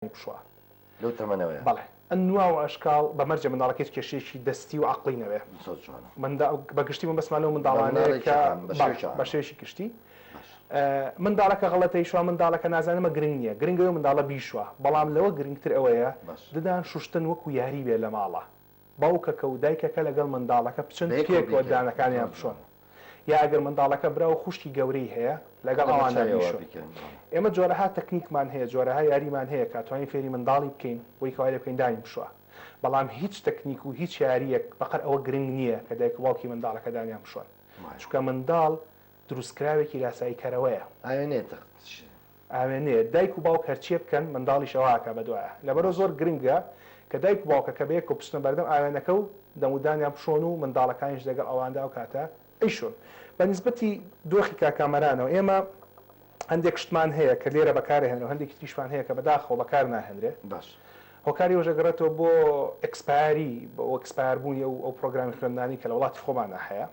پشووە. لەو تەمەنەوەیە. بەڵێ. نواو و ئەشکاڵ بە مەرجێ منداڵەکە هیچ کێشەیەکی دەستی و عەقڵی نەبێ. زۆر جوانە. منداڵ، بە گشتی مەبەستمان لەو منداڵانەیە کە. بە مناڵێکی عام، بە شێوەیەکی عام. بەڵێ، بە شێوەیەکی گشتی. باشە. منداڵەکە غەڵەتەی شوا، منداڵەکە نازانێ ئەمە گرنگ نییە. گرنگە ئەوەیە منداڵە بیشوا. بەڵام لەوە گرنگتر ئەوەیە. باشە. ددان شوشتن وەکوو یاری بێ لە ماڵا. باوکەکە و دایکەکە لەگەڵ منداڵەکە بچن پێکەوە ددانەکانیان بشۆن، یا ئەگەر منداڵەکە برا و خوشکی گەورەی هەیە لەگەڵ ئەواندا بیشۆن. ئێمە جۆرەها تەکنیکمان هەیە، جۆرەها یاریمان هەیە کە توانین فێری منداڵی بکەین بۆی کەوا لێ بکەین دانی بشۆ. بەڵام هیچ تەکنیک و هیچ یارییەک بەقەر ئەوە گرنگ نییە کە دایک و باوکی منداڵەکە دانیان بشۆن. چونکە منداڵ دروستکراوێکی لاساییکەرەوەیە. ئاوێنەیە تەخت. ئاوێنەیە دایک و باوک هەرچیە بکەن منداڵیش ئەوە ئەکا بەدوایە لەبەرئەوە زۆر گرنگە کە دایک و باوکەکە بەیەکەوە بچنە بەردەم ئاوێنەکە و دەمودانیان بشۆن و منداڵەکانیش لەگەڵ ئەواندا ئەو کاتە ئەیشۆن بە نیسبەتی دۆخی کاکامەرانەوە ئێمە هەندێک شتمان هەیە کە لێرە بەکار ئەهێنرێ و هەندێکی تریشمان هەیە کە بەداخەوە بەکار ناهێنرێ باشە. هۆکاری ئەوەش ئەگەڕێتەوە بۆ ئێکسپایەری و ئێکسپایەر بوونی ئەو ئەو پڕۆگرامی خوێندنانەی کە لە وڵاتی خۆماندا هەیە.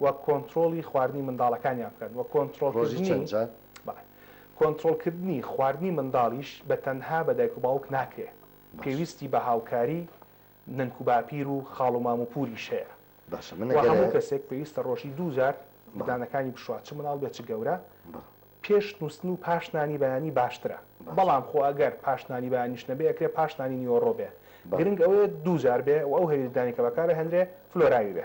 و کۆنترۆڵی خواردنی منداڵەکانیان بکەن و ڕۆژی چەند جار؟ کۆنترۆڵکردنی خواردنی منداڵیش بە تەنها بە دایک و باوک ناکرێ باش. پێویستی بە هاوکاری نەنک و باپیر و خاڵ و مام و پووریش هەیە باشە من و هەموو ئەگەرە کەسێک پێویستە ڕۆژی دوو جار بەڵێ ددانەکانی بشوات چ منداڵ بێت چ گەورە بەڵێ پێش نووستن و پاش نانی بەیانی باشترە باش بەڵام خۆ ئەگەر پاش نانی بەیانیش نەبێ ئەکرێ پاش نانی نیوەڕۆ بێ بەڵێ گرنگ ئەوەیە دوو جار بێ و ئەو هەلی ددانی کە بەکارئەهێنرێ فلۆراوی بێ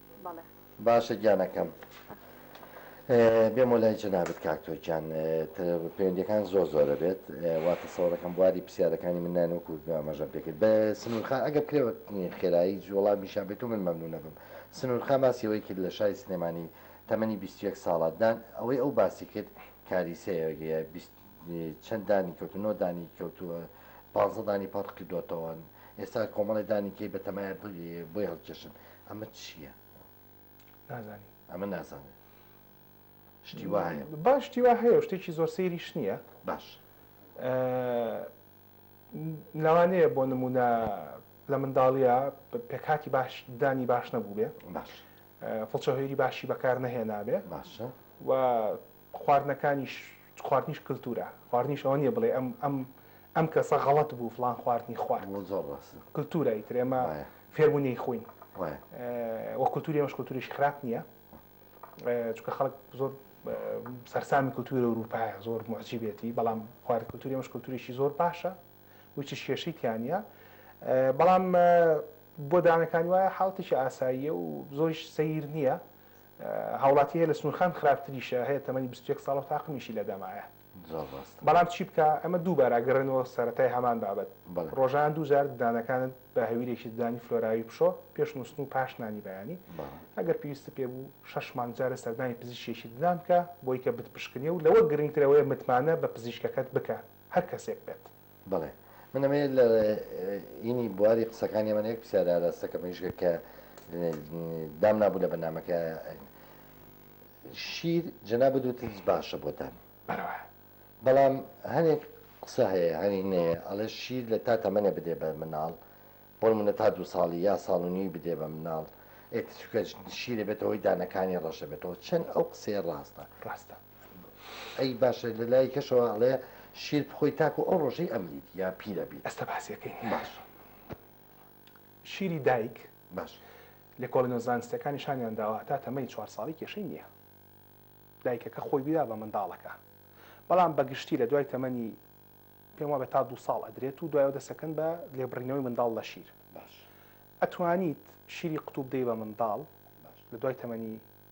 بەڵێ. باشە گیانەکەم بێمۆ لای جەنابت کاک تۆ گیان پەیوەندیەکان زۆر زۆرە بێت وا تەسەوەڕەکەم بواری پرسیارەکانی من نان وەکو ئاماژەم پێکرد بە سنوورخا ئەگە بکرێوە خێرایی جوڵا میشان بێت و من مەمنونە بم سنوورخا باسیەوەی کرد لە شای سلێمانی تەمەنی بیست و یەک ساڵە دان ئەوەی ئەو باسی کرد کاریسەیە بیست چەند دانی کەوتو نۆ دانی کەوتووە پازە دانی پڕ کردوتەوەن ئێستا کۆمەڵی دانی کەی بە تەمای بۆی هەڵکێشن ئەمە چییە؟ نازانی ئەمە نازانێت شتی وا هەیە باشتی وا هەیە شتێکی زۆر سەیریش نییە باش لەوانەیە بۆ نمونە لە منداڵیە پێکاتی باش دانی باش نەبوو بێ باش فڵچە هێری باشی بەکار نەهێنابێ باشە و خواردنەکانیش خواردنیش کلتورە خواردنیش ئەوە نیە بڵێ ئەم ئەم ئەم کەسە غەڵەت بوو فڵان خواردنی خوارد زۆر ڕاست کلتورە ئیتر ئێمە فێربوو نەیخۆین وە کلتوری ئێمەش کلتوریش خراپ نیە چونکە خەڵک زۆر سەرسامی کلتوری ئەوروپایە زۆر معجیبێتی بەڵام خوارد کلتوری ئێمەش کلتوریشی زۆر باشە وچ کێشەی تیانە بەڵام بۆ دانەکانی وایە حاڵتێکی ئاساییە و زۆریش سیر نییە هاوڵاتی هەیە لە سنورخان خراپتریشە هەیە تەمەنی بیست و یەک ساڵەو تاقمیشی لەدەمایە زۆر ڕاستە بەڵام چی بکا ئەمە دووبارە ئەگەڕێنەوە سەرەتای هەمان بابەت بەڵێ ڕۆژانە دوو جار ددانەکانت بە هەویرێکی ددانی فلۆراوی بشۆ پێش نوستن و پاش نانی بەیانی بەڵێ ئەگەر پێویستت پێ بوو شەش مانگ جارێ سەردانی پزیشکێکی ددان بکە بۆی کە بتپشکنێ و لەوە گرنگتر ئەوەیە متمانە بە پزیشکەکەت بکە هەر کەسێک بێت. بەڵێ من ئەمەیە لە ینی بواری قسەکانی ئەمەنە یەک پرسیارە ئاراستەکە مەیشگە کە دام نابوو لە بەنامەکە شیر جەنابە دوتت باشە بۆتان بەڵام هەنێک قسە هەیە هەنی نەیە ئەڵێ شیر لە تا تەمەێ بدێ بە مناڵ بۆن منە تا دو ساڵی یا ساڵنی بدێ بە مناڵ ئێتکە شیرە بێتەوەی دانەکانی ڕەشە بێتەوە چەند ئەو قسەیە ڕاستە ڕاستە ئەی باشە لە لای کەشەوە ئەڵێ شیر بخۆی تاکو ئەو ڕۆژەی ئەمریت یا پیرە بیت ئەستە باسیەکەی باش شیری دایک باش لێکۆڵینەوە زانستیەکان نیشانیان داوە هەتا تەمەنی چوار ساڵی کێشەی نییە دایکەکە خۆی بیدا بە منداڵەکە بەڵام بەگشتی لە دوای تەمەنی پێم وابێت تا دو ساڵ ئەدرێت و دوایەوە دەسەکەن بە لێبڕینەوەی منداڵ لە شیر باش ئەتوانیت شیری قوتوب دەی بە منداڵ لە دوای تەمەنی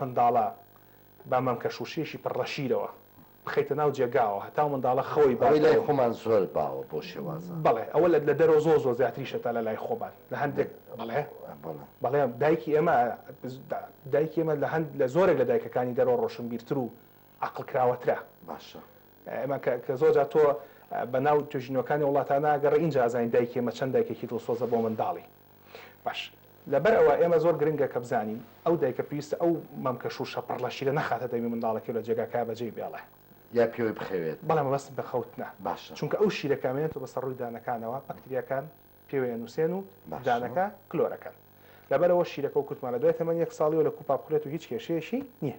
منداڵە با مەم کە شووشەیەکی پڕ ڕە شیرەوە بخەیتە ناو جێگاوە هەتاو منداڵە خەوی باتەوە. ئەوەی لای خۆمان زۆر باوە بۆ شێوازە. بەڵێ ئەوە لە دەرەوە زۆر زۆر زیاتریشە تا لە لای خۆمان لە هەندێک بەڵێ بەڵێ دایکی ئێمە دایکی ئێمە لە هەند لە زۆرێک لە دایکەکانی دەرەوە ڕۆشنبیرتر و عقل کراوەترە باشە ئێمە کە زۆر جا تۆ بە ناو توێژینەوەکانی وڵاتانە گەڕێ ئینجا ئەزانین دایکی ئێمە چەند دایکێکی دڵسۆزە بۆ منداڵی. باش لەبەر ئەوە ئێمە زۆر گرنگە کە بزانین ئەو دایکە پێویستە ئەو مەمکە شووشە پڕ لە شیرە نەخاتە دەمی منداڵەکەی و لە جێگاکەیا بەجێی بێڵێ. یا پێوەی بخەوێت. بەڵێ مەبەستم بە خەوتنە. باشە. چونکە ئەو شیرە کە ئەمێنێتەوە بەسەر ڕووی دانەکانەوە بەکتریاکان پێوەی ئەنووسێن و دانەکە کلۆر ئەکەن. لەبەر ئەوە شیرەکە وەکوتمان لە دوای تەمەنی یەک ساڵییەوە لە کوپا بخورێت و هیچ کێشەیەکی نییە.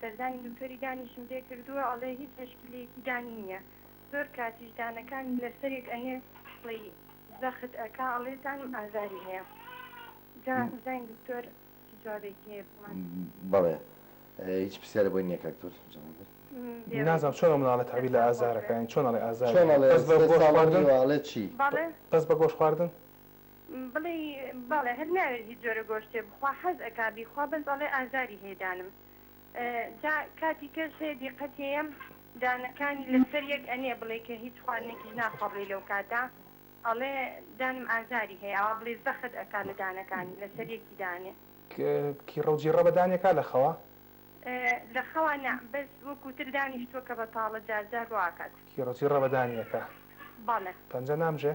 سەردانی دکتۆری دانیشم پێ کردووە ئەڵێ هیچ مشکلەیەکی دانی نیە زۆر کاتیش دانەکانی لەسەرێک ئەنێ ئەڵی زەخت ئەکا ئەڵێ دانم ئازاری هەیە جا بزانین دکتۆر چ جوابێکی هەیە بۆمان. بەڵێ هیچ پرسیارە بۆی نیە کاک دکتۆر جواب بێت. نازانم چۆن ئەو مناڵە تەعبیر لە ئازارەکە یانی چۆن ئەڵێ ئازاری هەیە بەس بە گۆشت خواردن؟ بەس بە گۆشت خواردن؟ بڵی بەڵێ هەر ناوێ هیچ جۆرە گۆشتێ بخوا حەز ئەکا بیخوا بەس ئەڵێ ئازاری هەیە دانم جا کاتی کەش هەیە دیقەتێیەم دانەکانی لەسەر یەک ئەنێ بڵێ کە هیچ خواردنێکیش ناخوا بڵێ لەو کاتە ئەڵێ دانم ئازاری هەیە ئەوا بڵێ زەخت ئەکا لە دانەکانی لەسەر یەکی دانێ. کیڕەو جیڕە بە دانێ کا لە خەوا؟ لە خەوا نا بەس وەکو تر دانیشتوە کە بەتاڵە جار جار ڕۆ ئاکات. کیڕە جیڕە بە دانێ ئەکا. بەڵێ. پەنجە نامژێ؟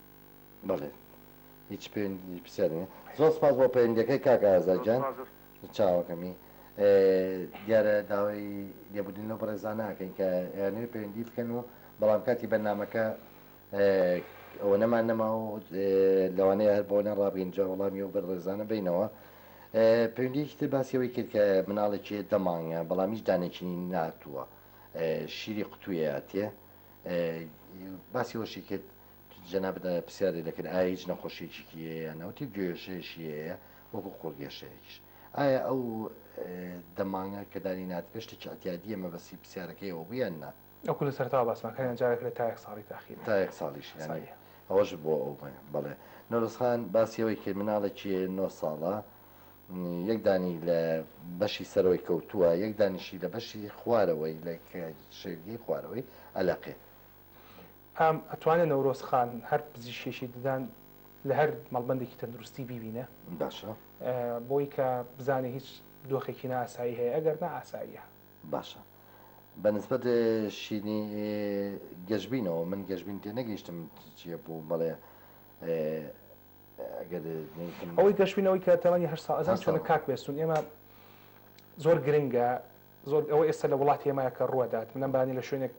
بەڵێ هیچ پەیوەندی پرسیار نیە. زۆر سپاس بۆ پەیوەندیەکەی کاک ئازاد گیان چاوەکەمی دیارە داوای لێبوردن لەو بەڕێزانە ئەکەین کە ئەیانەوێت پەیوەندی بکەن و بەڵام کاتی بەرنامەکە ئەوە نەمان نەما و لەوانەیە هەر بۆ نەڕابگەین جا وەڵامی و بەڕێزانە بینەوە پەیوەندیەکی تر باسیەوەی کرد کە مناڵێکی هەیە دە مانگە بەڵام هیچ دانێکینی ناتووە شیری قوتوویەتێ باسی وەشی کرد جەنابت پرسیارێ لێ کرد ئایا هیچ نەخۆشیەکیکی هەیە یان نا وتی گێژەیەشی هەیە وەکو قوڕ گێشەیەکیش ئایا ئەو دەمانگە کە دانی نات بێ شتێکی ئەتیادیە مەبەسی پرسیارەکەیەوە بوو یان نا وەکو لە سەرەتاوە باسمان کرد یان جارێک لە تایەک ساڵی تاخیر تا یەک ساڵیش یانی ئەوەش بۆ ئەو بێ بەڵێ نەورۆز خان باسی ئەوەی کرد مناڵێکی نۆ ساڵە یەک دانی لە بەشی سەرەوەی کەوتووە یەک دانیشی لە بەشی خوارەوەی لە شێلگەی خوارەوەی ئەلەقێ ئام ئەتوانێ نەورۆز خان هەر پزیشکێکی ددان لە هەر مەڵبەندێکی تەندروستی بیبینێ باشە بۆی کە بزانێ هیچ دۆخێکی ناسایی هەیە ئەگەر نا ئاساییە باشە بە نسبەت شینی گەشبینەوە من گەشبین تێ نەگەیشتم چیە بوو بەڵێ ئەوەی گەشبینەوەی کە تەمەنی هەشت ساڵ ئەزان چۆنە کاک بێستون ئێمە زۆر گرنگە زۆر ئەوە ئێستا لە وڵاتی ئێمە کە ڕووەدات، من لەم بارانە لە شوێنێک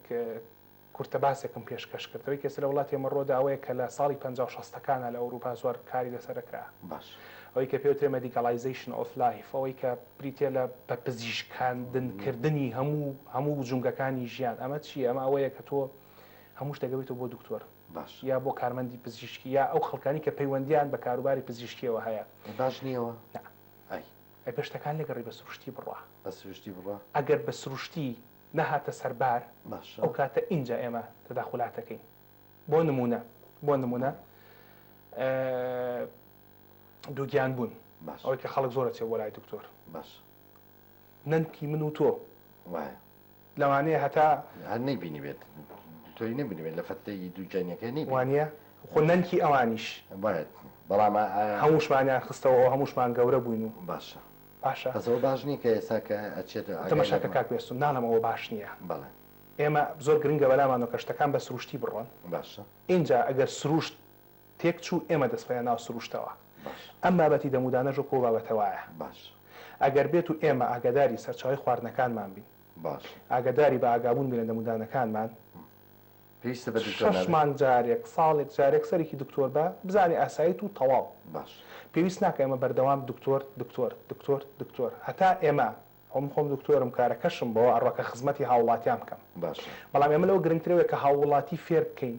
کورتە باسێکم پێشکەش کرد، ئەوەی کە ئێستا لە وڵاتی ئێمە ڕووەدا ئەوەیە کە لە ساڵی پەنجا و شەستەکانا لە ئەوروپا زۆر کاری لەسەر دەکرا، ئەوەی کە پێی وترێ مەدیکاڵایزەیشن ئۆف لایف، ئەوەی کە بریتییە لە بە پزیشکاندن کردنی هەموو هەموو جومگەکانی ژیان، ئەمە چییە؟ ئەمە ئەوەیە کە تۆ هەموو شتێک ئەبەیتەوە بۆ دکتۆر یا بۆ کارمەندی پزیشکی یا ئەو خەڵکانەی کە پەیوەندییان بە کاروباری پزیشکییەوە هەیە. باش نییە ئەوە؟ نا. ئای. ئەی بە شتەکان لەگەڕی بە سروشتی بڕوا. بە سروشتی بڕوا. ئەگەر بە سروشتی نەهاتە سەر بار، باشە. ئەو کاتە ئینجا ئێمە تەداخولات ئەکەین. بۆ نموونە، بۆ نموونە بەڵێ. ئە دووگیان بوون. باشە. ئەوەی کە خەڵک زۆر ئەچێ بۆ لای دکتۆر. باشە. نەنکی من و تۆ. وایە. لەوانەیە هەتا هەر نەیبینیبێت دکتۆری نەبینیبێت لە فەتلەی دوو جەینەکەی نەیبینی. وانیە؟ خۆ نەنکی ئەوانیش. بایەت بەڵام ئایا. هەمووشمانیان خستەوە ئەوە هەمووشمان گەورە بووین و. باشە. باشە. بەس ئەوە باش نییە کە ئێستا کە ئەچێت ئاگای لەمە. تەماشاکە کاک بێستون ناڵێم ئەوە باش نییە. بەڵێ. ئێمە زۆر گرنگە بەلامانەوە کە شتەکان بە سرووشتی بڕۆن. باشە. ئینجا ئەگەر سرووشت. تێک چوو ئێمە دەست خۆیان ناو سروشتەوە باش. ئەم بابەتی دەمودانەش وەکو ئەو بابەتە وایە باش. ئەگەر بێت و ئێمە ئاگاداری سەرچاوەی خواردنەکانمان بین باش. ئاگاداری بە ئاگابوون بین لە دەمودانەکانمان پێویستە بە دکتۆر شەش نابێ. مانگ جارێک ساڵێک جارێک سەرێکی دکتۆر بە بزانێ ئاسایت و تەواو باش. پێویست ناکە ئێمە بەردەوام دکتۆر دکتۆر دکتۆر دکتۆر هەتا ئێمە خۆ من خۆم دکتۆرم کارەکەشم بەوە ئەڕوا کە خزمەتی هاوڵاتیان بکەم باشە. بەڵام ئێمە لەوە گرنگترەوەیە کە هاووڵاتی فێر بکەین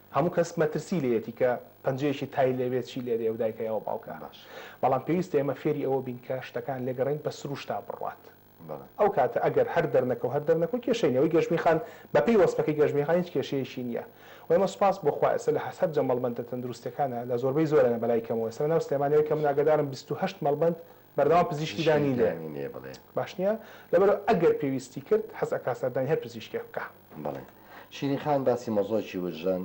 هەموو کەس مەترسی لێیەتی کە پەنجەیەکی تای لێبێت چی لێدێ ئەو دایکە یاوە باوکە بەڵام پێویستە ئێمە فێری ئەوە بین کە شتەکان لێگەڕێین بە سروشتا بڕوات ئەو کاتە ئەگەر هەر دەرنەکە و هەر دەرنەکە کێشەی نیە ئەوەی گەشبین خان بەپێی وەسفەکەی گەشبین خان هیچ کێشەیەکی نیە و ئێمە سوپاس بۆ خوا ئێستا لە حەسەت جە مەڵبەندە تەندروستیەکانە لە زۆربەی زۆرە بەلای کەمەوە ئێستا لەناو سلێمانیەوە کە من ئاگادارم بیست و هەشت مەڵبەند بەردەوام پزیشکی دانی لێ باش نیە لەبەرئەوە ئەگەر پێویستی کرد حەز ئەکا سەردانی هەر پزیشکێک بکا. بەڵێ شیرین خان باسی مۆزۆکی وجدان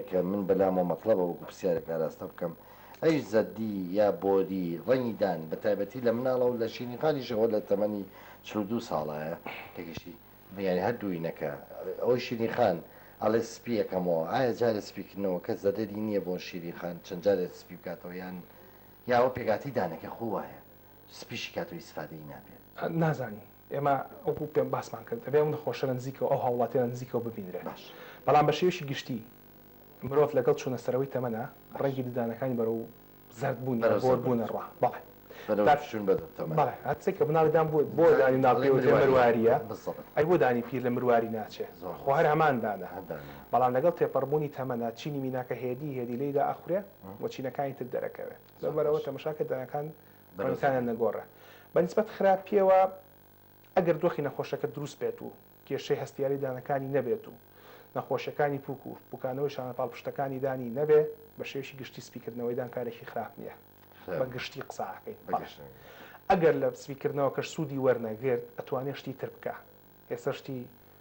کە من بەلامەوە مەتڵەبە وەکو پرسیارێک ئاراستە بکەم ئەی زەردی یا بۆری ڕەنگی دان بە تایبەتی لە مناڵە و لە شیرین خانیش ئەوە لە تەمەنی چل و دوو ساڵەیە کە گەشتی یانی هەردووینەکە ئەوەی شیرین خان ئەڵێ سپی ئەکەمەوە ئایا جارێ سپیکردنەوەکە زەرەری نییە بۆ شیرین خان چەند جارێ سپی بکاتەوە یان یا ئەوە پێکهاتەی دانەکە خۆ وایە سپی شیکاتەوە ئیسفادەی نابێ. نازانین ئێمە وەکو پێم باسمان کرد ئەبێ ئەو نەخۆشە لە نزیکەوە ئەو هاوڵاتیە لە نزیکەوە ببینرێ باش. بەڵام بە شێوەیەکی گشتی مرۆڤ لەگەڵ چوونە سەرەوەی تەمەنە باش. ڕەنگی ددانەکانی بەرەو زەرد بوون یا بەرەو زەرد بۆر بوون بوونە ڕا بەڵێ بەرەو تا چوون بە تەمەن بەڵێ هەر کەسێک کە بناڵی دان بووە بۆ دانی دانی مناڵ دەڵێ پێوترێ مرواریە مرواریە بالزەبط ئەی بۆ دانی پیر لە مرواری ناچێ زۆر خۆ هەر ڕاست هەمان دانە هەر دانەیە. بەڵام لەگەڵ تێپەڕبوونی تەمەنە چینی میناکە هێدی هێدی لێی دا ئەخورێ و چینەکانی تر دەرەکەوێت لەو بەرەوە تەمەشا کە دەنگەکان بەرەوتانە نەگۆڕێ بە نیسبەت خراپیەوە ئەگەر دۆخی نەخۆشەکە دروست بێت و کێشەی هەستیاری دانەکانی نەبێت و نەخۆشیەکانی پوک و بکانەوەی شانە پاڵپشتەکانی دانی نەبێ بە شێوشی گشتی سپیکردنەوەی دان کارێکی خراپ نییە بە گشتی قساکەی ئەگەر لە سپیکردنەوە کەش سوودی وەرنەگرت ئەتوانێت شتی تر بکە ئێستا شتی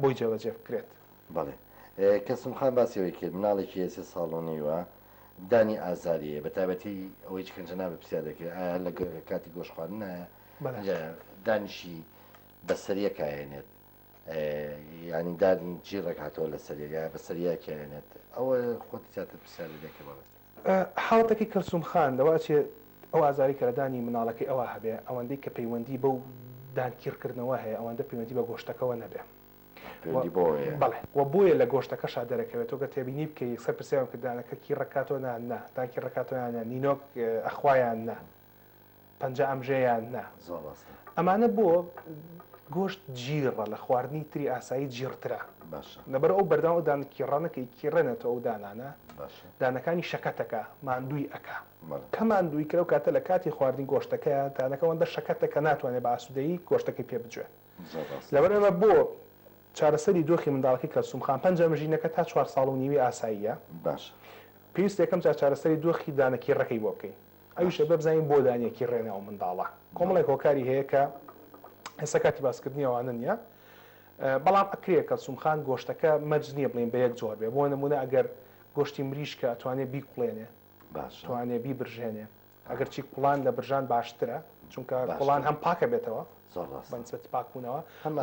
بۆی جێبەجێ بکرێت. بەڵێ کەسم خان باسی ئەوەی کرد مناڵێکی هەیە سێ ساڵ و نیوە دانی ئازاری هەیە بەتابەتی ئەوەی چکەنجە نابێ پرسیار دەکرێت ئایا لە کاتی گۆش خواردنایە دانیشی بەسەریە کاێنێت ینی دادین جیڕێک هاتەوە لە سەریەگە بەسەریە کێنێت ئەوە خۆت زیاتر پرسیاری دەکەمەوە حاڵەتەکەی کەلسوم خان لەوە ئەچێ ئەو ئازارەی کە لە دانی مناڵەکەی ئەوا هەبێ ئەوەندەی کە پەیوەندی بەو دان کیڕ کردنەوە هەیە ئەوەندە پەیوەندی بە گۆشتەکەوە نەبێ و پەیوەندی بەوە هەیە. بەڵێ وە بۆیە لە گۆشتەکەشا دەرەکەوێ تۆ گەر تێبینی بکەی یەکسەر پرسیاریان کرد دانەکە کیڕ ئەکاتەوە نان نا دان کیڕ ئەکاتەوە یان نا نینۆک ئەخوا یان نا؟ پەنجا ئەمژە یان نا. زۆر ڕاستە. ئەمانە بۆ گۆشت جیڕە لە خواردنی تری ئاسایی جیڕترە. باشە. لەبەر ئەو بەردەوام ئەو دانە کیڕە نەکەی کیڕێنێتەوە ئەو دانانە. باشە. دانەکانی شەکەت ئەکا ماندووی ئەکا. بەڵێ. کە ماندووی کرا ئەو کاتە لە کاتی خواردنی گۆشتەکەیا دانەکە ئەوەندە شەکەتە کە ناتوانێ بە ئاسوودەیی گۆشتەکەی پێ بجوێ. زۆر ڕاستە. لەبەر ئەمە بۆ چارەسەری دۆخی منداڵەکەی کەلسووم خان پەنجا مژینەکە تا چوار ساڵ و نیوی ئاساییە. باشە. پێویستە یەکەم جار چارەسەری دۆخی دانە کیڕەکەی بۆ بکەی. ئەویش ئەبێ بزانین بۆ دانیەکی ڕێنە ئەو منداڵە کۆمەڵێک هۆکاری هەیە کە ئێستا کاتی باسکردنی ئەوانە نییە بەڵام ئەکرێ کەلسوم خان گۆشتەکە مەرج نییە بڵین بە یەک جۆر بێ بۆ نمونە ئەگەر گۆشتی مریشکە ئەتوانێ بیکوڵێنێ توانێ بیبرژێنێ ئەگەرچی کوڵان لە برژان باشترە چونکە کوڵان هەم پاکە بێتەوە بەنسبەتی پاکبوونەوە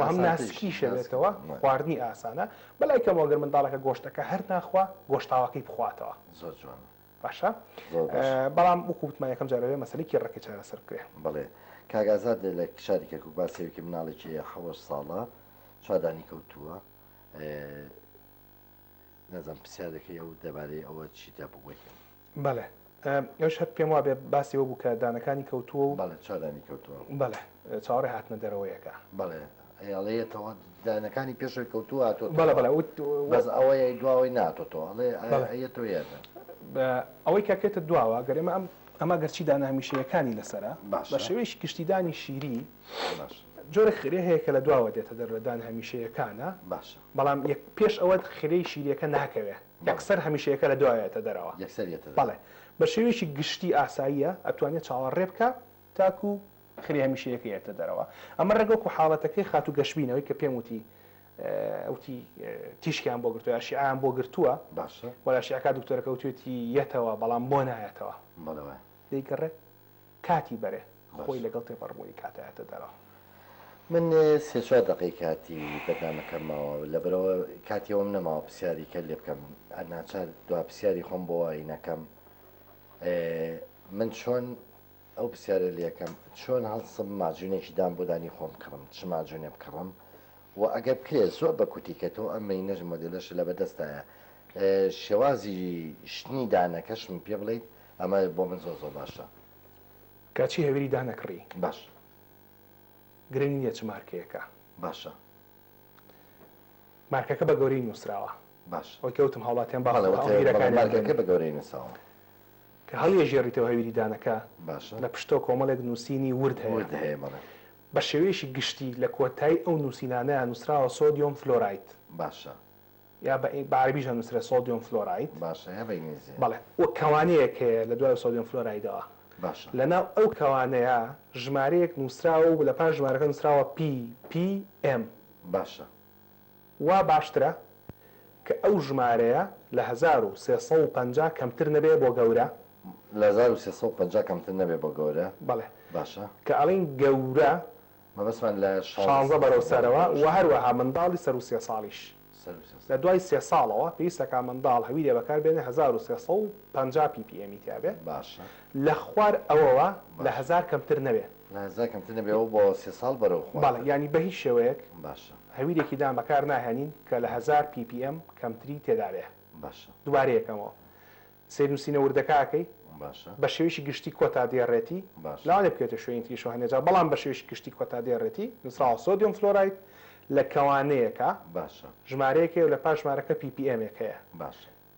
هەم ناسکی شەوێتەوە خواردنی ئاسانە بەلای کەمەوەگەر منداڵەکە گۆشتەکە هەر ناخوا گۆشتاوەکەی بخواتەوە زۆر جوان باشە زۆر باش. بەڵام وەکو وتمان یەکەم جار ئەبێ مەسەلەی کێبڕەکێ چارەسەر بکرێ. بەڵێ. کاک ئازاد لە شاری کەرکوک باس هەیە کە مناڵێکی حەوەش ساڵە چوار دانی کەوتووە نازانم پرسیارەکەی ئەو دەبارەی ئەوە چی تا بگوت بەڵێ ئەوش هەر پێم وابێ باسی ئەوە بوو کە دانەکانی کەوتووە و بەڵێ چوار دانی کەوتووە بەڵێ چاوەڕێ هاتنە دەرەوەیەکە بەڵێ ئەیەڵێیەتەوە دانەکانی پێشەوەی کەوتووە هاتۆتەوە. بەڵێ بەڵێ وت وت. بەس ئەوەی دواوەی نەهاتۆتەوە ئەڵێ بەڵێ. ئەیەتەوە یان نا. بە ئەوەی کە کەێتە دواوە گەر ئێمە ئەم ئەمە گەرچی دانە هەمیشەیەکانی لەسەرە بە باشە. شێوەیەکی گشتی دانی شیری باشە. جۆرێک خرێ هەیە کە لە دواوە دێتە دەر لە دان هەمیشەیەکانە باشە. بەڵام یەک پێش ئەوە خرێی شیریەکە ناکەوێ بەڵێ. یەکسەر هەمیشەیەکە لە دوا یەتە دەرەوە. یەکسەر یەتە دەرەوە. بەڵێ بە شێوەیەکی گشتی ئاساییە ئەتوانێ چاوەڕێ بکا تاکو ئاخری هەمیشەیەکەی ئەێتە دەرەوە ئەمە ڕێک وەکو حاڵەتەکەی خاتوو گەشبینەوەی کە پێم وتی وتی تیشکیان بۆ گرتووە شیعیان بۆ گرتووە باشە وەلا شیعەکە دکتۆرەکە وتوێتی یەتەوە بەڵام بۆ نایەتەوە بەڵێ دەیگەڕێت کاتی بەرێ خۆی لەگەڵ تێپەڕبوونی کات ئەێتە دەرەوە. من سێ چوار دەقەی کاتی بەرنامەکەم ماوە لەبەرئەوە کاتی ئەوەم نەماوە پرسیاری کە لێ بکەم ناچار دوا پرسیاری خۆم بۆ وای نەکەم من چۆن ئەو پرسیارەی لێ کەم چۆن هەڵسم ماجونێکی دام بۆ دانی خۆم کڕم چ ماجونێ بکڕم وە ئەگەر بکرێ زۆر بە کوتی کە تۆ ئەم مێینەش مۆدێلەش لە بەدەستایە شێوازی شتنی دانەکەشم پێ بڵێیت ئەمە بۆ من زۆر زۆر باشە. کە چی هەویری دانە کڕی. باش. گرنگ نیە چ مارکەیەکە. باشە. مارکەکە بە گەورەی نوسراوە. باش. وەک کە وتم هاوڵاتیان بەڵێ وتە مارکەکە بە گەورەی نوساوە. کە هەڵیەژێڕیتەوە هەویری دانەکە باشە. لە پشتەوە کۆمەڵێک نووسینی ورد هەیە. ورد هەیە بەڵێ. بە شێوەیەکی گشتی لە کۆتایی ئەو نووسینانەیا نووسراوە سۆدیۆم فلۆراید. باشە. یا بە بە عەرەبیشا نووسرا سۆدیۆم فلۆراید. باشە یا بە ئینگلیزی. بەڵێ. و کەوانەیەک هەیە لە دوای سۆدیۆم فلۆرایدەوە. باشە. لە ناو ئەو کەوانەیا ژمارەیەک نووسراوە و لە پاش ژمارەکە نووسراوە پی، پی، ئێم. باشە. وا باشترە کە ئەو ژمارەیە لە هەزار و سێ سەد و پەنجا کەمتر نەبێ بۆ گەورە. لە هەزار و سێ سەد و پەنجا کەمتر نەبێ بۆ گەورە بەڵێ باشە. کە ئەڵێین گەورە مەبەستمان لە شانزە شانزە بەرەو سەرەوە سەرەوە گەورەش وە هەروە ها منداڵی سەروو سێ ساڵیش سەر و سێ لە ساڵ. دوای سێ ساڵەوە پێویستە کە منداڵ هەویرێ بەکار بێنێ هەزار و سێ سەد و پەنجا ppm ی تیابێ باشە. لە خوار ئەوەوە لە باشە. هەزار کەمتر نەبێ. نازە کەمتر نەبێ ئەوە بۆ سێ ساڵ بەرەو خۆ بەڵێ دەبێ. یانی بەهیچ شێوەیەک باشە. هەویرێکی دان بەکار ناهێنین کە لە هەزار پی پی ئێم کەمتری تێدا بێ. باشە. دوبارەی ئەکەمەوە. سەیرنوسینە وردەکە ئەکەی. باشە. بە شێوەیەکی گشتی کۆتا دێڕێتی. باشە. لەوانەیە بکەوێتە شوێنی تریشەوە هەندێ جار بەڵام بە شێوەیەکی گشتی کۆتا دێڕێتی. نوسراوە سۆدیۆم فلۆراید لە کەوانەیەکە. باشە. ژمارەیەک هەیە و لە پاش ژمارەکە پی پی ئێمێک هەیە. باشە.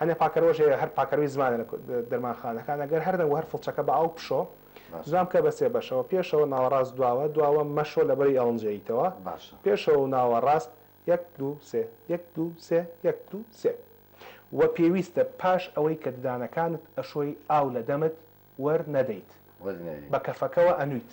هەنێ پاکەرۆژ هەیە هەر پاکەرۆی زمانە لە دەرمانخانەکان ئەگەر هەردەنگ و هەر فڵچەکە بە ئاو بشۆ زمان بکە بە سێ بەشەوە پێشەوە ناوەڕاست دواوە دواوە مەشۆ لەبەری ئەڵنجەییتەوە پێشەوە و ناوەڕاست یەک دوو سێ یەک دوو سێ یەک دوو سێ وە پێویستە پاش ئەوەی کە ددانەکانت ئەشۆی ئاو لە دەمت وەر نەدەیت بە کەفەکەوە ئەنویت.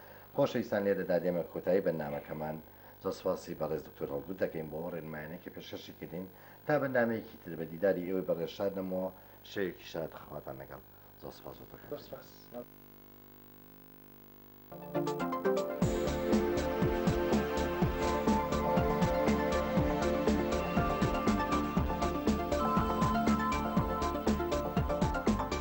خۆشەویستان لێرەدا دێمە کۆتایی بەرنامەکەمان، زۆر سوپاسی بەڕێز دکتۆر هەڵگورد دەکەین بۆ ئەو ڕێنمایانەی کە پێشکەشی کردین، تا بەرنامەیەکی تر بە دیداری ئێوەی بەڕێز شاد دەم و شەوێکی شاد خواتان لەگەڵ، زۆر سوپاس بۆ تۆ کاک ژیار.